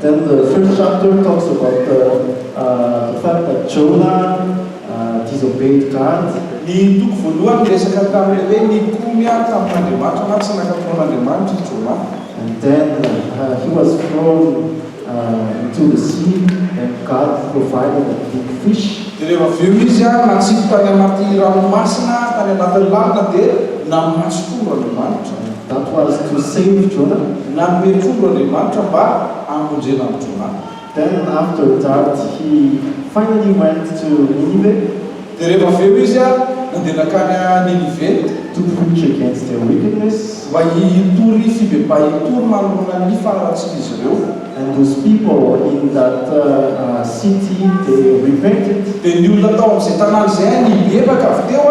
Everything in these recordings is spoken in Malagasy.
Then the first chapter talks about the the fact that Jonah disobeyed God. Ny toko voalohany miresaka tamin'ny hoe nikomy tamin'Andriamanitra na tsy nankatò an'Andriamanitra i Jonah. And then he was thrown into the sea and God provided a big fish. Dia rehefa avy eo izy natsipy tany anaty ranomasina, tany anatin'ny lanona, dia namaso koa Andriamanitra. That was to save Jonah. Nanome trondro Andriamanitra mba hamonjena an'i Jonah. Then after that he finally went to Ninive. Dia rehefa avy eo izy nandeha nankany Ninive. To preach against their wickedness. Mba hitory fibebahim-po manoloana ny faharatsian'izy ireo. And those people in that city they repented. Dia ny olona tao amin'izay tanàna izay nibebaka avy teo.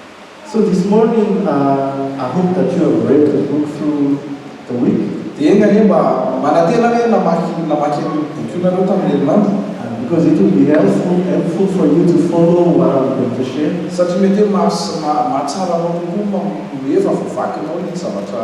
So this morning I hope that you have read the book through the week. Dia enga anie mba manantena ve namaky namaky an'io boky io nareo tamin'ny herinandro? And because it will be helpful helpful for you to follow what I'm going to share. Satria mety hoe maha sy maha mahatsara anao kokoa ny mamonoa heva vao vakinao ny zavatra.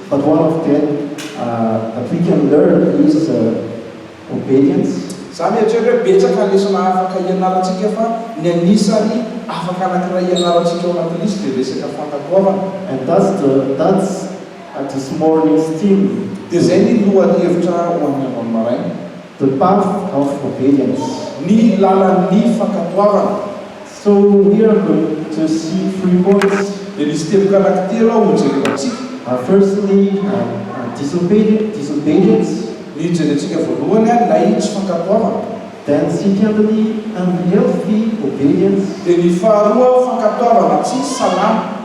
But one of them that we can learn is obedience. Za mieritreritra hoe betsaka ny lesona afaka ianarantsika fa ny anisany afaka anankiray ianarantsika ao anatin'ny lisy dia ny resaka fankatoavana. And that's the that's this morning's theme. Dia izay ny lohahevitra ho an'ny androany maraina. The path of obedience, ny lalan'ny fankatoavana. So we are going to see three points, dia misy teboka anankitelo ao hojerena amintsika. Our first thing are our disobedient, disobedience. Ny hijerentsika voalohany ary ilay tsy fankatoavana. Then second ny unhealthy obedience. Dia ny faharoa fankatoavana tsy salama.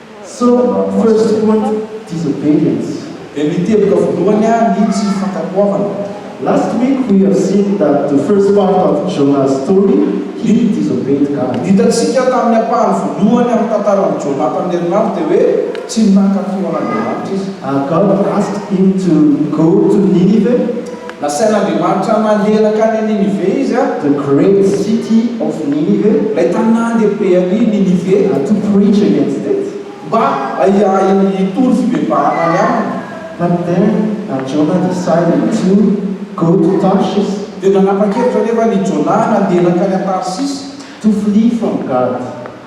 So, first point, disobedience. Dia ny teboka voalohany an, ny tsy fankatoavana. Last week we have seen that the first part of Jonah's story, he disobeyed God. Ny hitantsika tamin'ny ampahany voalohany amin'ny tantaran'i Jonah tamin'ny herinandro dia hoe tsy nankatò an'Andriamanitra izy. God asked him to go to Nineveh Nasain'Andriamanitra nahery hankany an'i Ninive izy, a. The great city of Ninive. Ilay tanàna lehibe an'i Ninive. And to preach against it. Mba hitory fibebahana ny aminy. But then Jonah decided to go to Tarshish. Dia nanapa-kevitra anefa an'i Jonah nandeha nankany an-Tarsisy. To flee from God.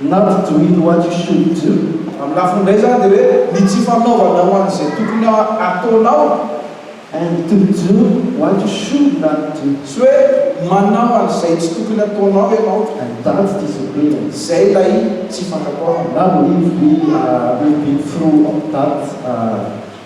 Not doing what you should do, amin'ny lafiny iray izany dia hoe ny tsy fanaovana ho an'izay tokony hataonao, and to do what you should not do, sy hoe manao an'izay tsy tokony hataonao ianao, and that disagreement, izay ilay tsy fankatoavana. Now live we are reaping fruit of that.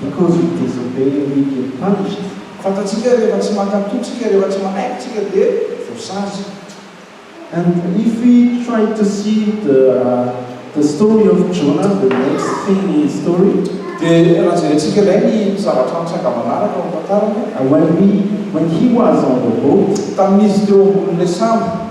Because he disobeyed we get punished. Fantatsika rehefa tsy maka antoky tsika rehefa tsy manaiky tsika dia voasazy. And if we try to see the the story of Jonah the next thing in his story. Dia raha jerentsika indray ny zavatra nitranga manaraka ao amin'ny tantarany. When we when he was on the boat. Tamin'izy teo ambonin'ilay sambo.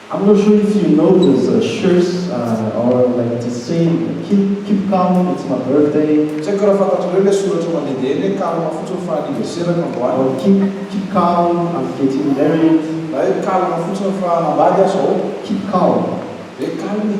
I'm not sure if you know those shirts are like this saying keep keep calm it's my birthday. Tsy haiko raha fantatrareo ilay soratra mandehandeha eny hoe calme fotsiny fa anniversaire-ko androany. Or keep keep calm I'm getting married. Na hoe calme fotsiny fa hanambady aho izao. Keep calm. Hoe calme e.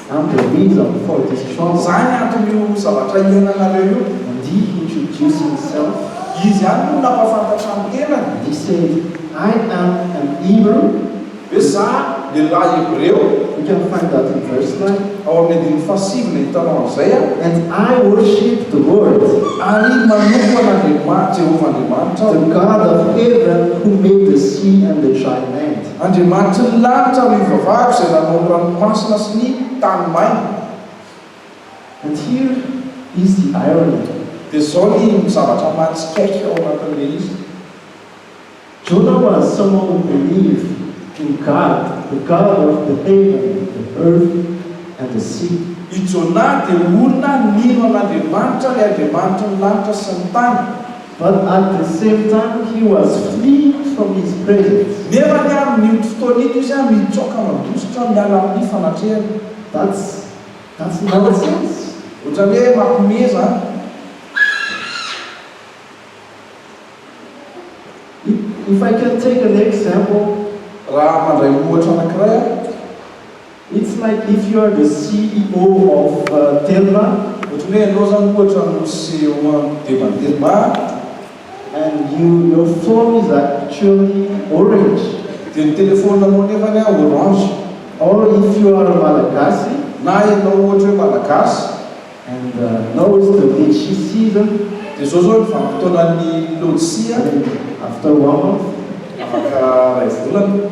Ampy amin'iny zany faute distraction zany. Zany antony io zavatra iainanareo io. Mandihy introducing self. Izy ihany no nampafantatra ny tenany. He said, I am an Hebrew. Ve za lehilahy Hebreo? You can find that in verse nine. Ao amin'ny andininy fahasivy no ahitanao an'izay an. And I worship the Lord. Ary manompo an'Andriamanitra, Jehovah Andriamanitra, aho. The God of heaven who made the sea and the dry land. Andriamanitry ny lanitra no ivavahako izay nanao ny ranomasina sy ny tany maina. And here is the irony, dia izao ny zavatra mahatsikaiky ao anatin'ilay izy. Jonah was someone who believed in God, the God of the heaven, the earth and the sea. I Jonah dia olona nino an'Andriamanitra, ilay Andriamanitry ny lanitra sy ny tany. But at the same time he was flee from his presence. Nefa anie amin io fotoana iny izy mitsoaka mandositra miala amin ny fanatrehany. That's that's nonsense. Otrany hoe mampime zany. If I can take an example. Raha mandray ohatra anakiray aho. It's like if you are the CEO of Telma, ohatran'ny hoe ianao izany ohatra no CEO an'ny Devan'ny Telma, and your phone is actually orange, dia ny telefaoninanao nefany orange, or if you are a Malagasy, na ianao ohatra hoe Malagasy, and now is the litchi season, dia izao izao ny vanim-potoanan'ny lôtisia, and after one month, afaka iray volana.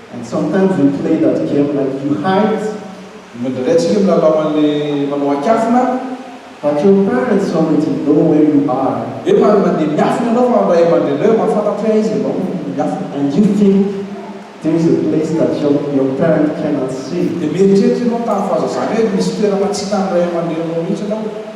And sometimes we play that game like you hide. Indraindray tsika milalao an'le manao an-kiafina an. But your parents already know where you are. Hoe man mandeha miafina ianao fa ny ray aman-dreninao efa mahafantatra hoe aiza ianao no miafina. And you think there is a place that your your parent cannot see. Dia mieritreritra ianao tamin'ny fahazazana hoe misy toerana tsy hitan'ny ray aman-dreninao mihitsy ianao.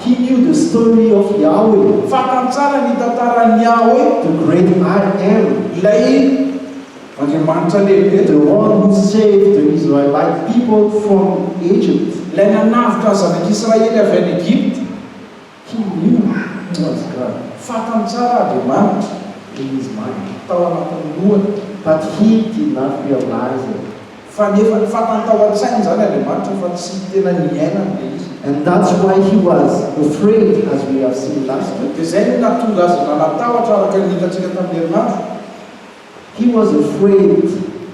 He knew the story of Yahweh. Fantany tsara ny tantaran'i Yahweh. The great I am. Ilay Andriamanitra lehibe. The one who saved the Israelite people from Egypt. Ilay nanavotra ny zanak'Israely avy any Egypta. He knew who was God. Fantany tsara Andriamanitra. In his mind. Tao anatin'ny lohany. But he did not realize it. Fa nefa fantany tao an-tsainy izany Andriamanitra fa tsy tena niainany ilay izy. And that's why he was afraid as we have seen last week. Dia izay no nahatonga azy nanatahotra araka ny hitantsika tamin'ny herinandro. He was afraid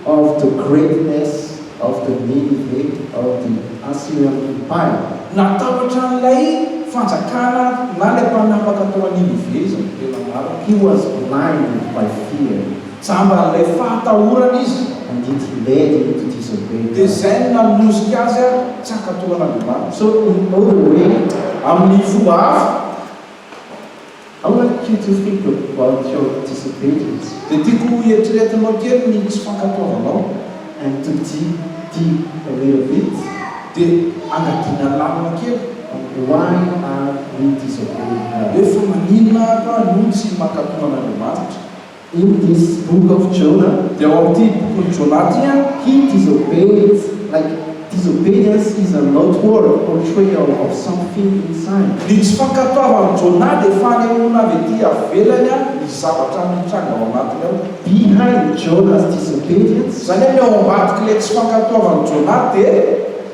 of the greatness of the Nineveh of the Assyrian Empire. Natahotra an'ilay fanjakana na ilay mpanapaka tao Nineveh izy amin'ny tena marina. He was blinded by fear. Jamba an'ilay fahatahorana izy handidy led io to tease away ka. Dia izay no nanosika azy ary tsy hankatoan'Andriamanitra. So in other way, amin'ny fomba hafa, I would like you to think about your disobedience. Dia tiako ho eritreretinao kely ny tsy fankatoavanao. And to dig deep a little bit. Dia angadiana lalina kely. On why are we disobeying God. Hoe fa maninona aho no tsy mankatoa an'Andriamanitra. In this book of Jonah, dia ao amin'ity bokin'i Jonah ity an, he disobeys, like disobedience is an outward portrayal of something inside. Ny tsy fankatoavan'i Jonah dia fanehoana avy ety avelany an, ny zavatra mitranga ao anatiny ao. Behind Jonah's disobedience. Izany hoe ny ao ambadik'ilay tsy fankatoavan'i Jonah dia.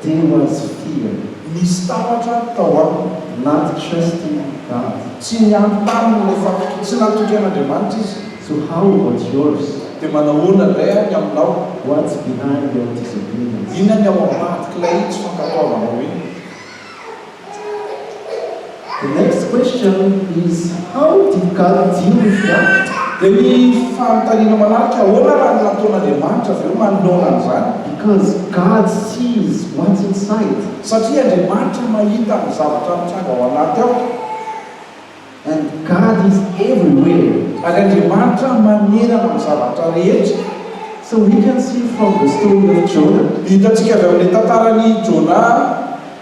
There was fear. Nisy tahotra tao aminy. Not trusting God. Tsy niampy taminy ilay fakitro. Tsy natoky an'Andriamanitra izy. So how about yours? Dia manahoana indray ary ny aminao? What's behind your disobedience? Inona ny ao ambadik'ilay tsy fankatoavanao iny? The next question is how did God deal with doubt? Dia ny fanontaniana manaraka, ahoana raha ny nataon'Andriamanitra avy eo manoloana an'izany? Because God sees what's inside. Satria Andriamanitra mahita ny zavatra mitranga ao anaty ao. And God is everywhere. Ary Andriamanitra manerana amin'ny zavatra rehetra. So we can see from the story of Jonah. Hitantsika avy amin'ny tantaran'i Jonah.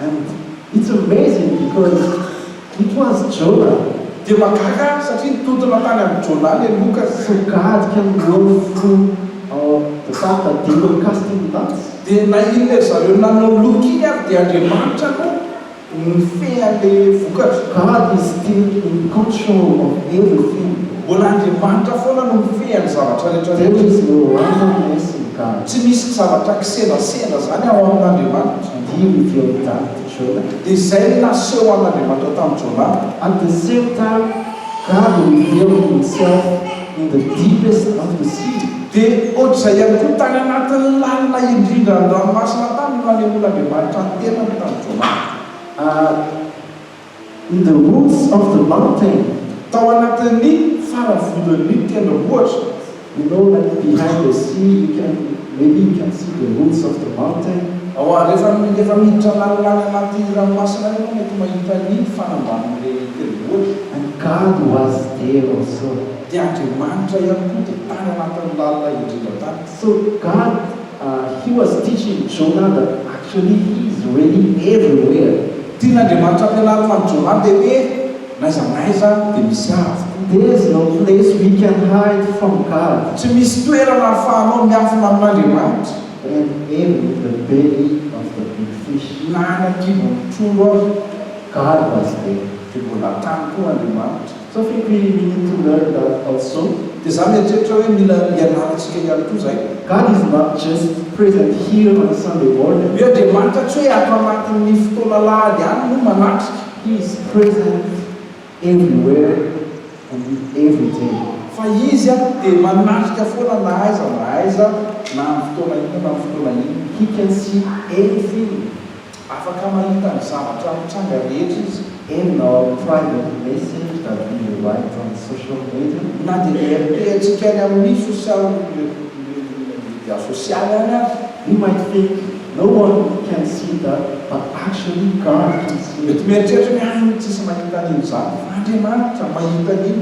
And it's amazing because it was Jonah. Dia mahagaga aho satria nitontona tany amin'i Jonah le loka. Sokajy ka ny one fo ao the fact that they were cast in lots. Dia nahiana ry zareo nanao loka iny ary dia Andriamanitra no nifehy an'le vokatra. God is still in control of everything. Mbola Andriamanitra foana no mifehy an'ny zavatra rehetra rehetra. There is no randomness in God. Tsy misy zavatra kisendrasendra zany ao amin'Andriamanitra. Dia io teo amin'ny tanin'i Jona. Dia izay no naseho an'Andriamanitra tamin'i Jona. At the same time, God revealed Himself in the deepest of the sea. Dia ohatr'izay ihany koa, tany anatin'ny lalina indrindra any ranomasina tany no nanehoan'Andriamanitra ny tenany tamin'i Jona. Ary. In the Woods of the Mountain, tao anatin'ny faravonon'ny tendrombohitra, You know like behind the sea you can, maybe you can see the woods of the mountain. Ao a, rehefa rehefa miditra lanilany anaty ranomasina any ianao mety mahita ny fanambanin'ilay tendrombohitra. And God was there also. Dia Andriamanitra ihany koa dia tany anatin'ny lalina indrindra tany. So God. He was teaching Jonada actually he is really everywhere. Tian'Andriamanitra ampianaro fa ny Jonada dia hoe n'aiza n'aiza dia misy ahy avokoa. There is no place we can hide from God. Tsy misy toerana ahafahanao miafina amin'Andriamanitra. And in the belly of the big fish. Na any an-kibon'ny trondro aza. God was there. Dia mbola tany koa Andriamanitra. Tsofiko i Mimi Toner da Falso dia za mieritreritra hoe mila ianarantsika ihany koa zay. God is not just present here on Sunday morning. Io Andriamanitra tsy hoe ato anatin'ny fotoana alahady ihany no manatrika. He is present everywhere and in every day. Fa Izy an dia manatrika foana na aiza na aiza na amin'ny fotoana inona na amin'ny fotoana inona. He can see everything. Afaka mahita ny zavatra mitranga rehetra izy. Eny, na ao amin'ny private message na be the right on social media. Na dia ny RPHika any amin'ny sosialy no mirevin'ny media sosialy any aza. You might think no one can see that but actually God can see it. Mety mieritreritra ny any ny tsisy mahita an'inona izany fa Andriamanitra mahita an'io.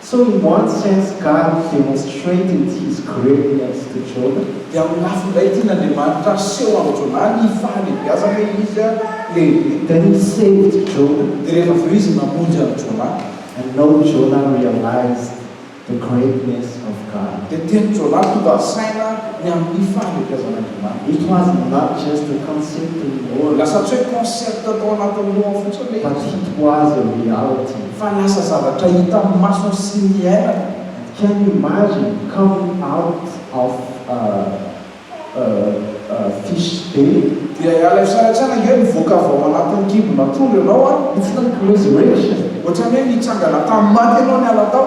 So he wants chance God if he wants straight into his grave next to Jonah. Dia amin'ny lafiny iray tian'Andriamanitra aseho amin'i Jonah ny fahalehibiazany hoe izy dia lehibe. Then he saved Jonah. Dia rehefa avy eo izy namonjy an'i Jonah. And now Jonah realized the greatness of God. Dia teny Jonah tonga saina ny amin'ny fahalehibiazan'Andriamanitra. It was not just a concept anymore. Lasa tsy hoe concept tao anatin'ny lohany fotsiny ilay izy. But it was a reality. Fa lasa zavatra hita amin'ny maso sy niainana. Can you imagine coming out of a fish day? Dia ialay fisaratsiana ange mivoaka avy ao anatin'ny kibon'atrondro ianao an! It's like resurrection! Ohatran'ny hoe nitsangana tamin'ny maty ianao niala tao.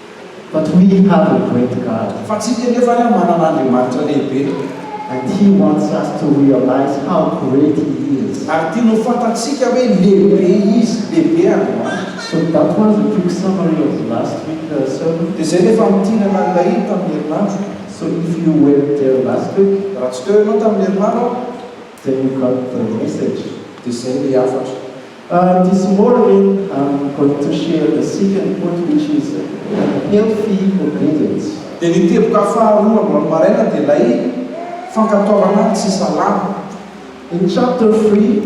But we have a great God. Fa tsika anefa ary manana Andriamanitra lehibe. And He wants us to realize how great He is. Ary tiany ho fantatsika hoe lehibe Izy, lehibe Andriamanitra. So that was a quick summary of the last week sermon. Dia izay ilay famintinana an'ilay tamin'ny herinandro. So if you weren't there last week. Raha tsy teo ianao tamin'ny herinandro aho. Then you got the message, dia zay ilay hafatra. Ahh this morning I'm going to share the second point which is healthy obedience. Dia ny teboka faharoa androany maraina dia ilay fankatoavana tsy salama. In chapter three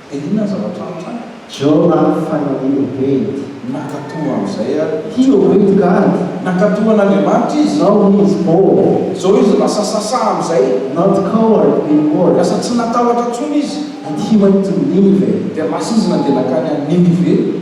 Dia inona ny zavatra antrany? Jona faha enina ho pejy. Nankatò amin'izay ary. Tio ho pejy ka ady. Nankatò an'Andriamanitra izy. Now he is bold. Izao izy lasa sasa amin'izay. Not coward any more. Lasa tsy natahotra intsony izy. And he went to Nineveh. Dia lasa izy nandeha nankany Ninive.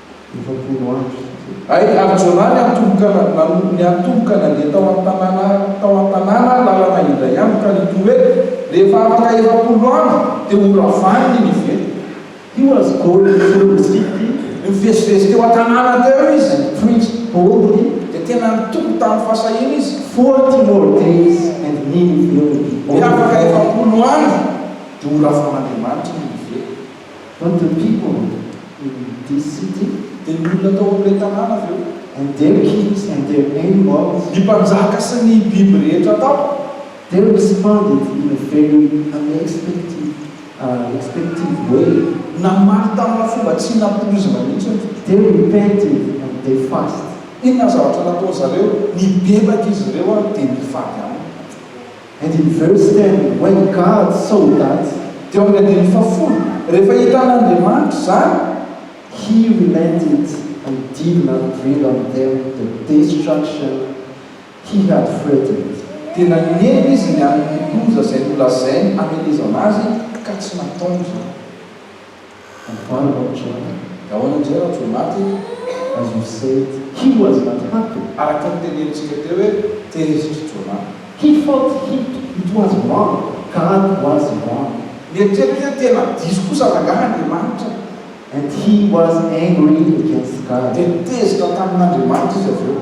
efapolo andro. Ay Arjona ny antomboka nanompo ny antomboka nandeha tao an-tanàna tao an-tanàna lalana indray andro ka nitory hoe, Rehefa afaka efapolo andro dia ho ravaniny ny veta. He was going through the city, nivezivezy teo an-tanàna teo izy, and preached boldly, dia tena nitoko tamin'ny fahasahiana izy, Forty more days and me will be over. Dia afaka efapolo andro dia ho ravan'Andriamanitra ny veta. But the people in this city, dia ny olona tao amin'ilay tanàna avy eo. And their kings and their name was. Ny mpanjaka sy ny biby rehetra tao. They responded in a very unexpected, expective, way. Namaly tamina fomba tsy nampoizina mihitsy. They repented and they fasted. Inona ny zavatra nataon'izareo? Nibebaka izy ireo ary dia nifady aminy. Andininy faharoa sy telo, Wayne Gard, Soldats, dia ao amin'ny andininy fahafolo, Rehefa hitan'Andriamanitra izany, He relented and did not bring on them the destruction He had threatened, dia nanenina izy ny amin'ny loza izay nolazainy hamelezana azy ka tsy nataony izany. Amboary Bab Johar, Gaona Jay Rajoelinaty, Azur Said, He was not happy, araka ny tenenintsika teo hoe tehizitr'i Jonah. He felt heat, it was wrong, God was wrong. Nieritreritra hoe tena diso kosa rangaha Andriamanitra. And he was angry against God. Dia tezitra tamin'Andriamanitra izy avy eo.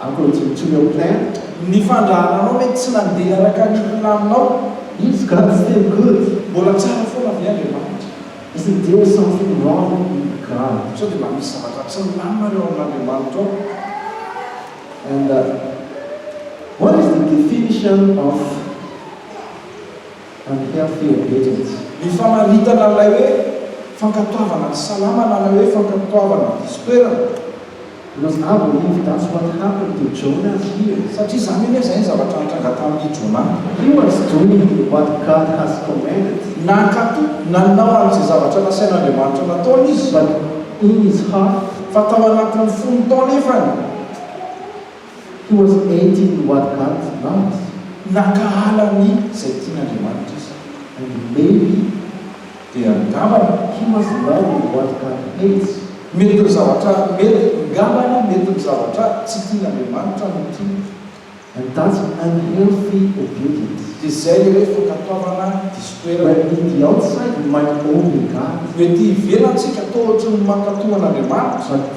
Akory to your plan, ny fandrahananao mety tsy nandeha araka ny planinao. It's God still good. Mbola tsara foana ve Andriamanitra? Isn't there something wrong with God? Sao dia mba misy zavatra tsy milamina eo amin'Andriamanitra ao? And what is the definition of. Ampitafy teo Bedratsy. Ny famaritana an'ilay hoe fankatoavana ny salama na ilay hoe fankatoavana ny diso toerana. Mbola za vao ivy that's what happened to Jonah here. Satria zany anie zay ny zavatra nitranga tamin'i Jonah. He was doing what God has commanded. Nankato, nanao an'izay zavatra nasain'Andriamanitra nataony izy. But in his heart. Fa tao anatin'ny fony tao anefany. He was eighteen what God loves. Nakahala ny izay tian' Andriamanitra izy and maybe dia angambany he was in love with what God hates. Mety ny zavatra mety ngambany mety ny zavatra tsy tian' Andriamanitra no tiany. And that's unhealthy obedience. Dia izay ilay hoe fankatoavana diso toerana. When in the outside we might obey God. Ho ety ivelan-tsika toa ohatry ny mankatò an' Andriamanitra. But.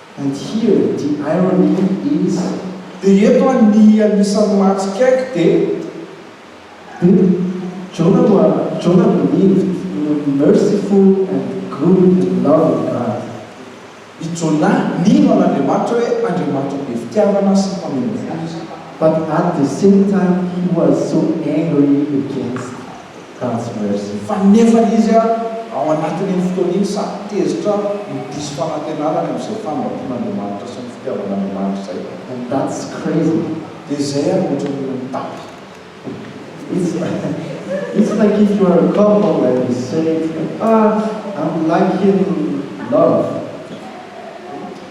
And here the irony is. Dia eto aho ny anisan'ny mahatsikaiky dia. Dia Jona no Jona believed in a merciful and good and loving God. I Jona nino an'Andriamanitra hoe Andriamanitra be fitiavana sy mpameno fo izy. But at the same time he was so angry against. Kajy merci fa nefa izy ary ao anatin'iny fotoana iny sady tezitra no diso fanantenana any amin'izay fambaton'Andriamanitra sy ny fitiavan'Andriamanitra izay. And that's crazy. Dia izay ary no ohatran'ny olona mitapy. It's it's like if you are a couple and you say, ah I'm like in love.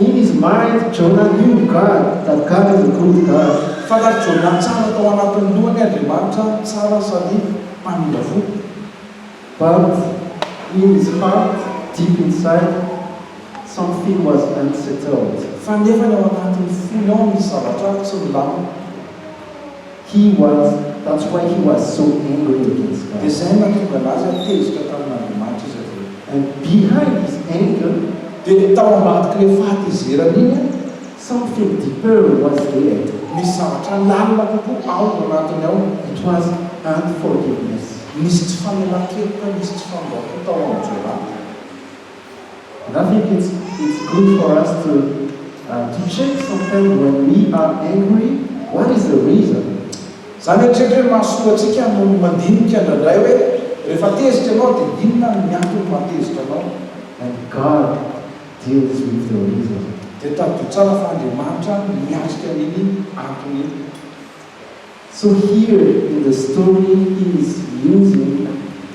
Iny izy maty Jonah iny God da God the good God. Fantatr Jonah tsara tao anatin'ny lohany Andriamanitra tsara sady mpamindra fo. But in his heart deep inside something was unsettled. Fa nefa ny ao anatin'ny fony ao misy zavatra tsy milamina. He was, that's why he was so angry against God. Dia izay no nahatonga an'azy ary tezitra tamin'Andriamanitra izy avy eo. And behind his anger. Dia tao ambadik'ilay fahatezerany iny an. Something deeper was there. Nisy zavatra lalina kokoa ao anatiny ao. It was unforgiveness. Nisy tsy famelan-keloka, nisy tsy fanomboham-po tao amin'i Joab. Na ve it's it's good for us to to check sometimes when we are angry what is the reason? Za mieritreritra hoe mahasoa antsika no mandinika indraindray hoe rehefa tezitra ianao dia inona ny antony mahatezitra anao and God deals with the reason. Dia tadidio tsara fa Andriamanitra miatrika an'iny antony iny. So here in the story is using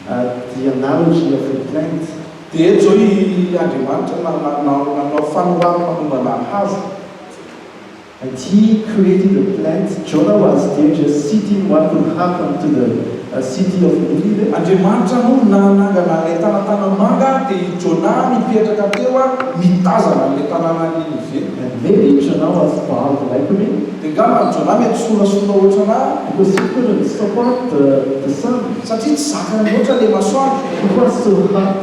the analogy of a plant. Dia eto izao i Andriamanitra nanao fanorary manombana hazo. And he created a plant, Jonah was there just sitting what would happen to the city of Ninive. Andriamanitra no nanangana ilay tanatanan-manga dia i Jonah nipetraka teo mitazana an'ilay tanàna Ninive. And maybe Jonah was bound likely. Dia ngamba ny Jonah mety sorasorao ohatranà because he couldn't stop out the the sun. Satria tsy zakany loatra le masoandro. He was so hot.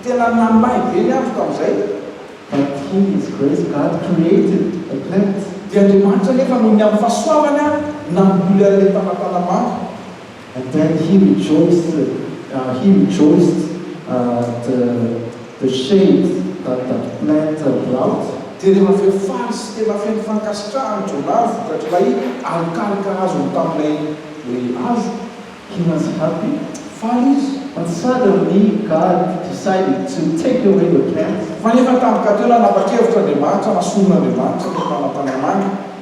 Tena namahy be ny andro tamin'izay. But in his grace God created a plant. Dia Andriamanitra anefa noho ny amin'ny fahasoavany ary namboly an'ilay talantalamanga. Then he rejoiced ah, he rejoiced at the shade that that plant brought. Dia tena feno faly sy tena feno fankasitrahana Jonah vokatr'ilay alokaloka azony tamin'ilay hoe hazo. He was happy. Faly izy. But suddenly God decided to take away the plant. Fa nefa tampoka teo nanapa-kevitra Andriamanitra, nasoron'Andriamanitra ny fanantanana any.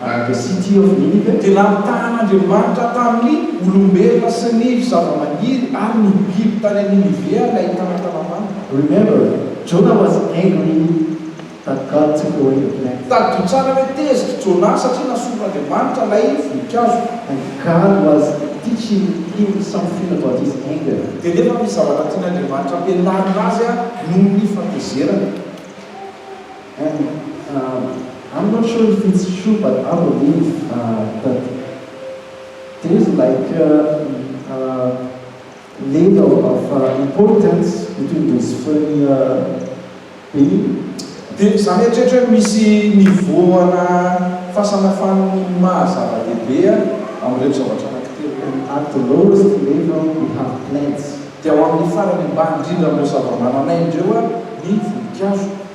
By the City of Nineveh. Dia nampitahan'Andriamanitra tamin'ny olombelona sy ny zavamaniry ary ny biby tany an'i Ninivea ilay talantalam-panta. Remember, Jonah was angry that God took away the plant. Tadidio tsara hoe tezitra i Jonah satria nasoron'Andriamanitra ilay voninkazo. And God was teaching him something about His anger. Dia nefa misy zavatra tian'Andriamanitra ampianarina azy noho ny fatezerany. An, am, am not sure if it's true but I believe that there is like a level of importance between those three beings. Dia za mieritreritra hoe misy niveau ana fahasamafan'ny maha zava-dehibe amin'ireny zavatra anankitelo ireny. And at the lowest level we have plants. Dia ao amin'ny farany ambany indrindra amin'ireo zava-manan'aina ireo ny voninkazo.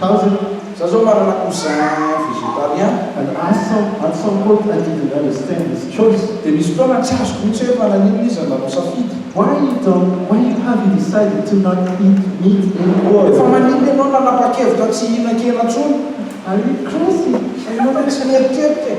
Kajy, Za zao manana cousin végétarien. An At some at some point I didn't understand his choice. Dia misy fotoana tsy azoko mihitsy hoe fa naninona izy no nanao safidy. Why you don't why you have you decided to not eat meat anymore? Fa maninona ianao nanapa-kevitra tsy hihinan-kena intsony? Are you crazy? Fa ianao ve tsy mieritreritra e?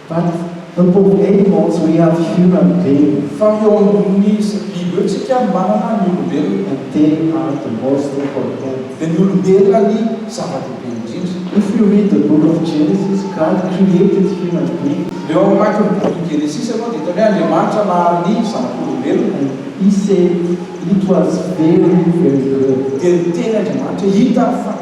But the problem was we have human being. Fa eo ambonin'ny biby eo tsika manana ny olombelona. And they are the most important. Dia ny olombelona ny zava-dehibe indrindra. If you read the book of Genesis, God created human beings. Raha eo hamaky ny bokin'i Genesisy ianao dia hitany hoe Andriamanitra nahary ny zanak'olombelona. And He said it was very very good. Dia niteny Andriamanitra hoe hita fa.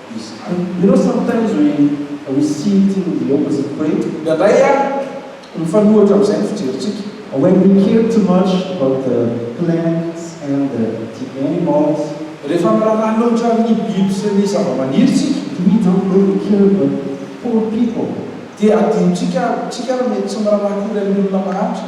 izy koa. You know sometimes we we see it in the opposite way, indraindray a mifanohitra amin'izay ny fijerintsika. When we care too much about the plants and the the animals. Rehefa miraharaha loatra amin'ny biby sy ny zava-maniry isika. Do we don't really care about poor people? Dia adinontsika, tsika ary mety tsy miraharaha akory amin'ny olona mahantra.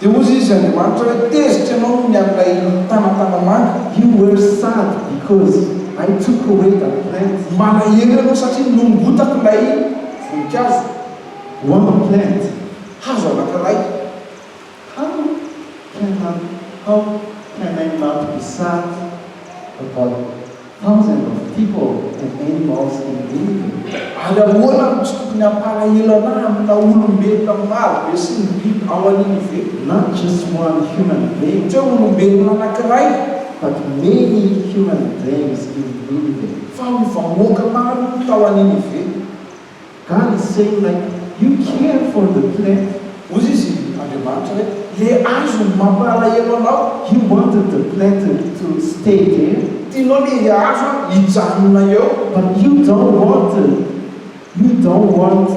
Dia hozy izy Andriamanitra hoe, Tezitra ianao noho ny an'ilay tana tanamanga. You were sad because I took away that plant. Malahelo ianao satria nongotako ilay voninkazo. One plant, hazo anankiray. How can I, how can I not be sad about Thousand of people and animals in danger. Ary ahoana no tsy tokony hampalahelo anà aminà olombelona maro be sy ny biby ao aniny ve? Not just one human being. Tsy hoe olombelona anankiray. But many human beings in Nineveh. Fa ho vahoaka maro tao aniny ve? God is saying like you care for the plant Hoy izy, Andriamanitra, hoe, Ilay hazo mampalahelo anao, He wanted the plant to stay there, Tianao ilay hazo hijanona eo, But you don't want You don't want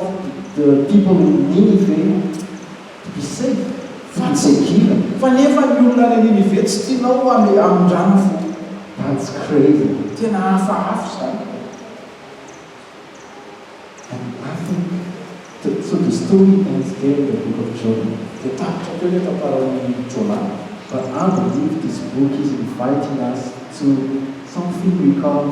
the people in Ninive to be safe, to be secure, Fa nefa ny olona any Ninive tsy tianao ho any amin-drano fo. That's crazy. Tena hafahafa izany. Any Marta the so the story ends there in the book of Jonah dia tapitra teo ilay tantaran'i Jonah fa avy nividy izy boky izy inviting us to something we called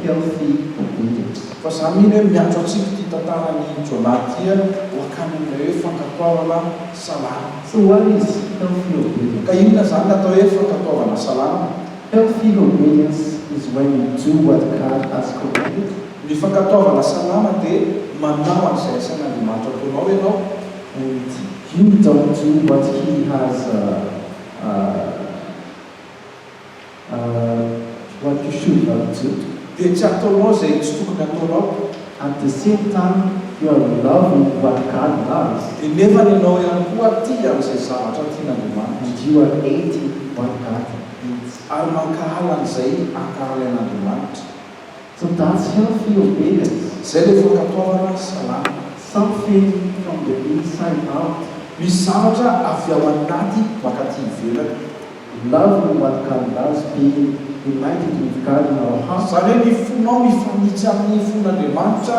healthy obedience. Fa za mino hoe miantso antsika ity tantaran'i Jonah ity ho akany amin'ilay hoe fankatoavana salama. So what is healthy obedience? Ka inona izany ny atao hoe fankatoavana salama? Health Field of Radiance is when you do what God has commanded you. Ny fankatoavana salama dia manao an'izay asain'Andriamanitra ataonao ianao, hoy ity. You don't do what He has what you should not do. Dia tsy ataonao izay tsy tokony hataonao. At the same time you are loving what God loves. Dia nefany ianao ihany koa tia an'izay zavatra tian'Andriamanitra. And you are hating what God. Vitsy. Ary mankahala an'izay ankarany an'Andriamanitra. Tsy datsy heo f'io bega izy. Zay le fankatoavana salama. Sao feno fandemina sa i Art. Misy zavatra avy ao anaty makaty ivelany. Love no matokan'datsy be united we've God in our heart. Zany hoe ny fonao mifanitsy amin'ny fon'Andriamanitra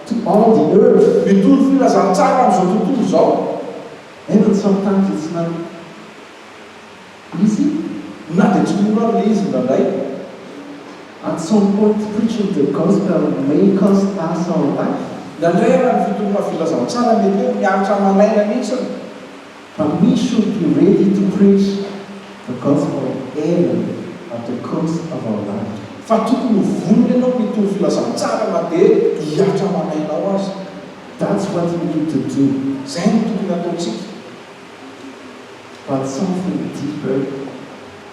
To all the earth. Mitovy filazantsara amin'izao tontolo izao. Aingony samy tany izay tsy nany izy na dia tsy mora ary le izy indraindray. At some point preaching the gospel may cost us our life. Indraindray ary ny fitoriana filazantsara mety hoe miaritra aman'aina mihitsiny. Fa misy hono toy ireny ry to preach the gospel even at the cost of our life. Fa tokony ho vonona ianao mitovy filazantsara na dia hihatra aman'ainao aza. That's what we need to do, izay no tokony hataontsika. But something deeper.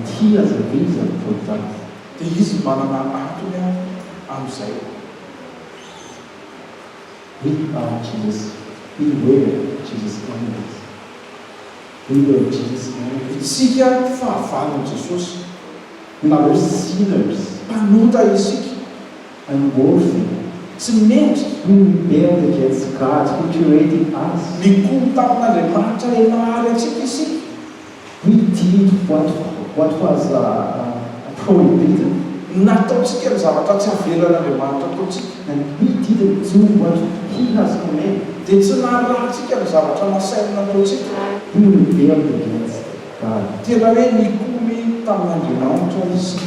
Nty aza ve izy ry Poldavy? Dia izy manana antony ary amin'izay. We are Jesus, we were Jesus candidates, we were Jesus married. Isika fahavalon'i Jesosy, na hoe sinners. Mpanota isika. I'm worthy. Tsy mendrika. We rebelled against God who created us. Nikomy tamin'Andriamanitra ilay nahary antsika isika. Ny dindo boîte boîte was prohibited. Nataontsika ny zavatra tsy avelan'Andriamanitra ataontsika. And we didn't do what He has commanded. Dia tsy narahintsika ny zavatra nasainy nataontsika. We rebelled against God. Tena hoe nikomy tamin'Andriamanitra isika.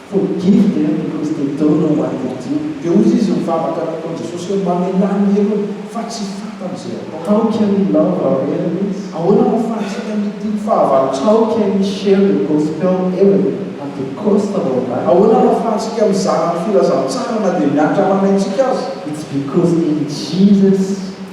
Forgive them because they don't know what they do Dia hoy izy mivavaka ny ataon'i Jesosy hoe mamelà ny helony fa tsy fantany izay ataony. How can we love our enemies? Ahoana no ahafahantsika mitia ny fahavalontsika? How can we share the Gospel even at the cost of our life? Ahoana no ahafahantsika mizara ny filazantsara na dia miantra amanay tsika aza? It's because in Jesus.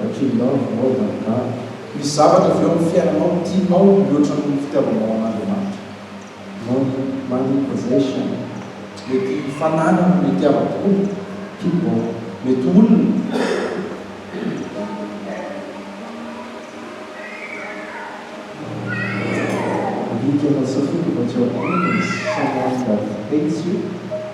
Ratrelirano Voa Galigalo. Misy zavatra avy eo amin'ny fiainanao tianao mihoatra noho ny fitiavanao an'Andriamanitra. Money, Money, Possession. Mety fananana no itiavako kokoa. People, Mety olona. Alika Mahasafidy mba tsy ahoana izy. Someone that hates you.